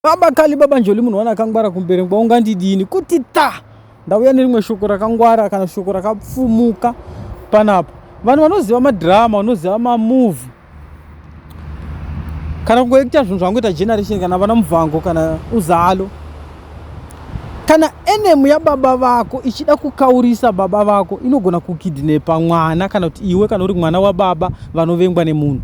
Baba Kali, Baba Njoli, munhu wana akangwara kumberengwa ungandidini kuti ta ndauya nerimwe shoko rakangwara kana shoko rakapfumuka panapa. Vanhu vanoziva madhirama, vanoziva mamuvi kana kungoita zvinhu zvangoita generation kana vana mubvango kana uzalo kana enemu yababa vako ichida kukaurisa baba vako inogona kukidnepa mwana kana kuti iwe kana uri mwana wababa vanovengwa nemunhu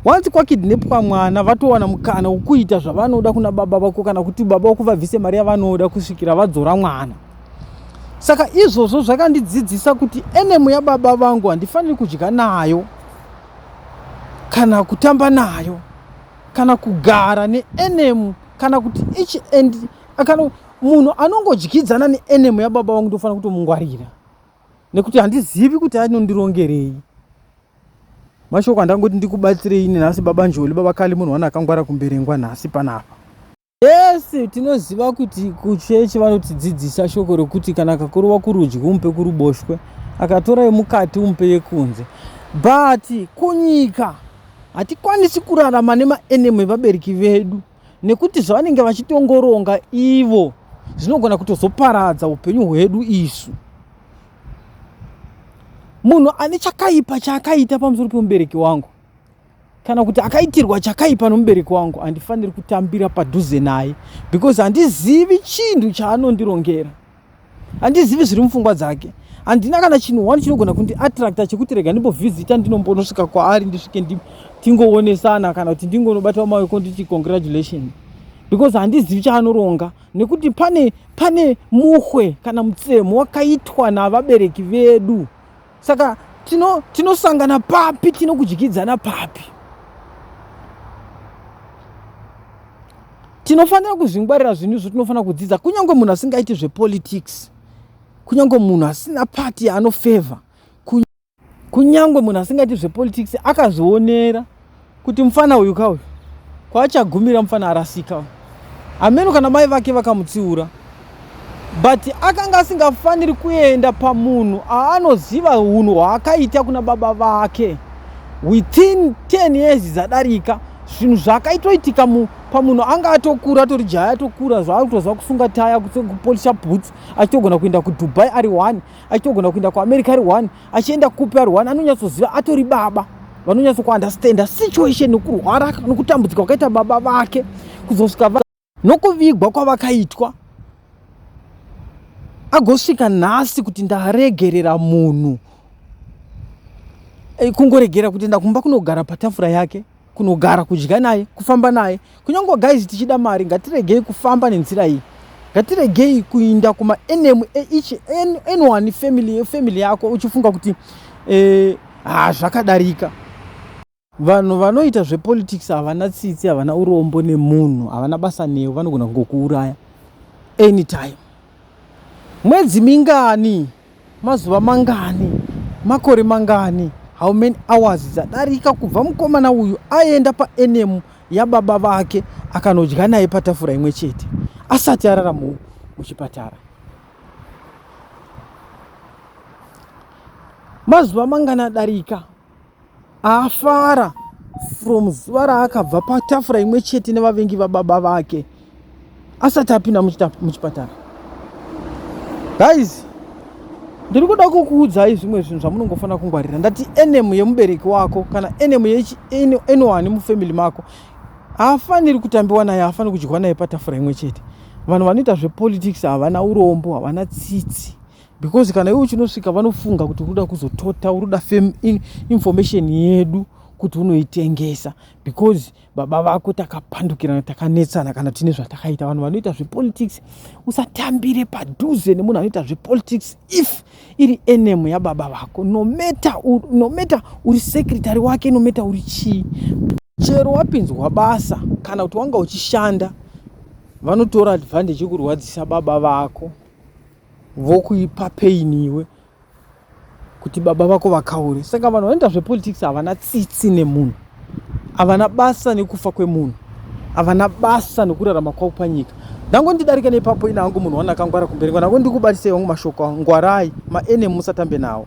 once kwakidnepwa mwana vatowana mukana wokuita zvavanoda kuna baba vako kana kuti baba vako vabvise mari yavanoda kusvikira vadzora mwana saka izvozvo zvakandidzidzisa kuti enemu yababa vangu handifaniri kudya nayo kana kutamba nayo kana kugara neenemu kana kuti each and kana munhu anongodyidzana neenemu yababa vangu ndofanira kutomungwarira nekuti handizivi kuti anondirongerei mashoko andangoti ndikubatsirei nenhasi baba njoli baba kali munhu wani akangwara kumberengwa nhasi panapa yese tinoziva kuti kuchechi vanotidzidzisa shoko rekuti kana akakurova kurudyi umupe kuruboshwe akatora yemukati umupe yekunze but kunyika hatikwanisi kurarama nemaenemy evabereki vedu nekuti zvavanenge vachitongoronga ivo zvinogona kutozoparadza upenyu hwedu isu munhu ane chakaipa chaakaita pamusoro pemubereki wangu kana kuti akaitirwa chakaipa nomubereki wangu handifaniri kutambira padhuze naye because handizivi chinhu chaanondirongera handizivi zviri mupfungwa dzake handina kana chinhu wani chinogona kundi attracta chekuti rega ndimbovhizita ndinombonosvika kwaari ndisvike tingowonesana kana kuti ndingonobatawo maweko nditi congratulation because handizivi chaanoronga nekuti pane pane muhwe kana mutsemo wakaitwa navabereki vedu saka tino tinosangana papi tinokudyidzana papi tinofanira kuzvingwarira zvinhu izvo tinofanira kudzidza kunyange munhu asingaiti zvepolitics kunyange munhu asina pati yaanofevha kunyange munhu asingaiti zvepolitics akazvionera kuti mfana uyu ka uyu kwaachagumira mfana arasika uyu hameno kana mai vake vakamutsiura but akanga asingafaniri kuenda pamunhu aanoziva unhu hwaakaita kuna baba vake within 10 years dzadarika zvinhu zvaakaitoitika pamunhu anga atokura atori jaya atokura zvaakutoziva kusunga taya kupolisha boots achitogona kuenda kudubai ari one achitogona kuenda kuamerica ari one achienda kupi arwani anonyatsoziva atori baba vanonyatso kuunderstanda situation nokurwara nokutambudzika kwakaita baba vake kuzosvika nokuvigwa kwavakaitwa agosvika nhasi kuti ndaregerera munhu eh, kungoregera kuti ndakumba kunogara patafura yake kunogara kudya naye kufamba naye kunyange guys tichida mari ngatiregei kufamba nenzira iyi ngatiregei kuinda kumaenemu each anyone family family yako uchifunga kuti eh, ah, zvakadarika vanhu vanoita zvepolitics havana tsitsi havana urombo nemunhu havana basa newe vanogona kungokuuraya anytime mwedzi mingani Mazuva mangani, makore mangani, how many hours dzadarika kubva mukomana uyu aenda paenemu yababa vake akanodya naye patafura imwe chete asati arara muchipatara? Mazuva mangani adarika Afara from zuva raakabva patafura imwe chete nevavengi vababa vake asati apinda muchipatara. Guys, ndiri kuda kukuudzai zvimwe zvinhu zvamunongofanira kungwarira. Ndati enemu yemubereki wako kana enemu yeanyone mufamily mako haafaniri kutambiwa naye, haafaniri kudyiwa naye patafura imwe chete. Vanhu vanoita zvepolitics havana urombo, havana tsitsi. because kana iwe uchinosvika vanofunga kuti unoda kuzotota unoda fame in, information yedu kuti unoitengesa because baba vako takapandukirana takanetsana kana tine zvatakaita vanhu vanoita zvepolitics usatambire padhuze nemunhu anoita zvepolitics if iri enemu yababa vako nometa nometa uri sekretary wake nometa uri chii chero wapinzwa basa kana kuti wanga uchishanda vanotora advantage yekurwadzisa baba vako vokuipa pain iwe kuti baba vako vakaure saka vanhu vanoita zvepolitics havana tsitsi nemunhu havana basa nekufa kwemunhu havana basa nekurarama kwavo panyika ndango ndidarika nepapo ina hangu munhu wana akangwara kumberi ngo ndango ndikubatisei wangu mashoko ngwarai maenemu musatambe nawo